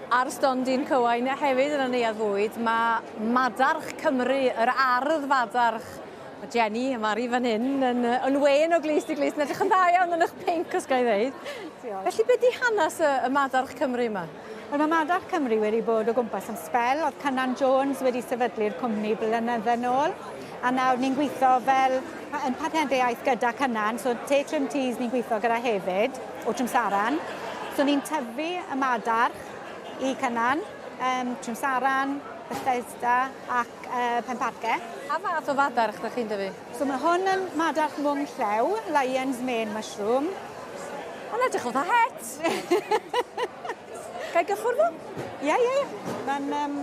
Ar stondin Cywain hefyd yn y Neuadd Fwyd, mae Madarch Cymru, yr ardd fadarch. Mae Jenny, y Mari fan hyn, yn, yn wen o glust i glust, yn edrych yn dda iawn yn eich pinc, os gael ei ddeud. Felly, beth di hanes y, y Madarch Cymru yma? Wel, mae Madarch Cymru wedi bod o gwmpas am sbel. Oedd Cynan Jones wedi sefydlu'r cwmni blynydde yn ôl. A nawr ni'n gweithio fel yn partneriaeth gyda Cynan, so Te Trim Teas ni'n gweithio gyda hefyd. O Trimsaran. So ni'n tyfu y madarch i Cynan, um, Trimsaran, Bethesda ac uh, Penparce. Pa fath o fadarch ydych chi'n dyfu? So mae hwn yn madarch mwng llew, lion's mane mushroom. Mae'n edrych oedd a het! Gai gychwrdd o? Ie, ie, ie. Mae'n... Um,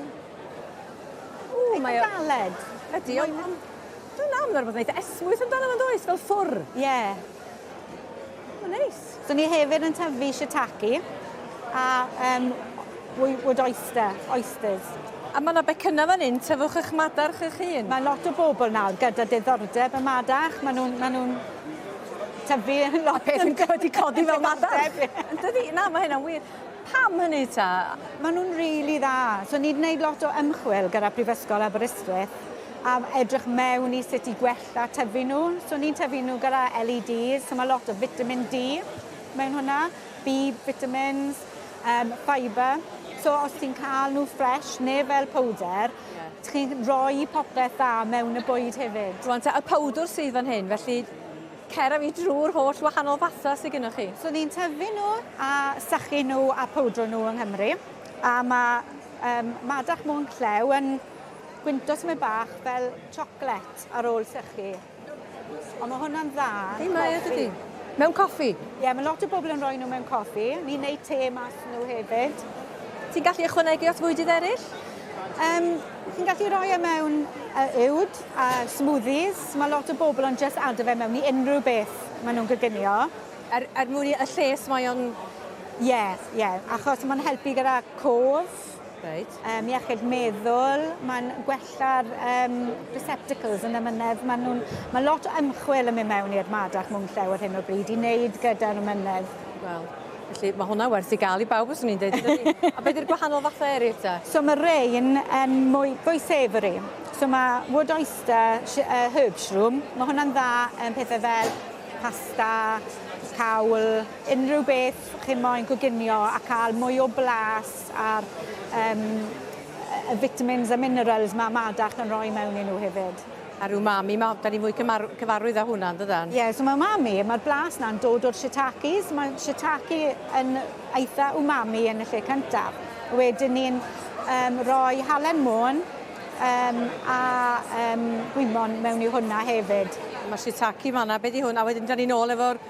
Ww, mae o... Galed. Ydy, ond... Dwi'n amlwg bod yn eitha esmwyth amdano fo'n does, fel ffwr. Ie. Yeah. O, neis. Dyn ni hefyd yn tyfu shiitake a um, wood oyster, oysters. A mae yna becynnau fan hyn, tyfwch eich madarch eich hun. Mae lot o bobl nawr gyda diddordeb y madarch, maen nhw'n ma nhw tyfu yn lot. A peth yn wedi codi fel madarch. Dydy, na, mae hynna'n wir. Pam hynny ta? Maen nhw'n rili really dda. So ni'n gwneud lot o ymchwil gyda Prifysgol Aberystwyth a edrych mewn i sut i gwella Da tyfu nhw. So ni'n tyfu nhw gyda LEDs, so mae lot o vitamin D mewn hwnna, B vitamins, um, fibre. So os ti'n cael nhw ffres, neu fel powder, yeah. chi'n rhoi popeth dda mewn y bwyd hefyd. Rwan ta, y powdwr sydd fan hyn, felly cer a fi drwy'r holl wahanol fatha sydd gennych chi. So ni'n tyfu nhw a sychu nhw a powdro nhw yng Nghymru. A mae um, Madach Môn Clew yn gwyntog tymed bach fel chocolate ar ôl sychu. Ond mae hwnna'n dda. Ei, mae e dydi? Mewn coffi? Ie, yeah, mae lot o bobl yn rhoi nhw mewn coffi. Ni'n neud te mas nhw hefyd. Ti'n gallu ychwanegu at fwydydd eraill? Um, ti'n gallu rhoi e mewn uh, uwd a uh, smoothies. Mae lot o bobl ond just ado fe mewn i unrhyw beth maen nhw'n gyginio. Er, er mwyn y lles mae o'n... Ie, yeah, ie. Yeah. Achos mae'n helpu gyda cof. Reit. Um, iechyd meddwl, mae'n gwella'r um, receptacles yn ymynedd. Mae, nhw, mae lot o ymchwil yn mynd mewn i'r madach mwng llew ar hyn o bryd i wneud gyda'r ymynedd. Wel, Felly mae hwnna werth i gael i bawb os ni'n dweud. a beth yw'r gwahanol fathau eraill ta? So mae rei yn um, mwy, fwy savoury. So mae wood oyster uh, herb shroom, mae hwnna'n dda yn um, pethau fel pasta, cawl, unrhyw beth chi'n moyn coginio a cael mwy o blas a'r um, y vitamins a minerals mae Madach yn rhoi mewn i nhw hefyd. A'r umami, mae, da ni fwy cyfarwydd â hwnna, dydan? Ie, yeah, so mae umami, mae'r blas na'n dod o'r shiitakes, mae shiitake yn eitha umami yn y lle cyntaf. Wedyn ni'n um, rhoi halen môn um, a um, gwymon mewn i hwnna hefyd. Mae shiitake fanna, beth i hwn, a wedyn da ni'n ôl efo'r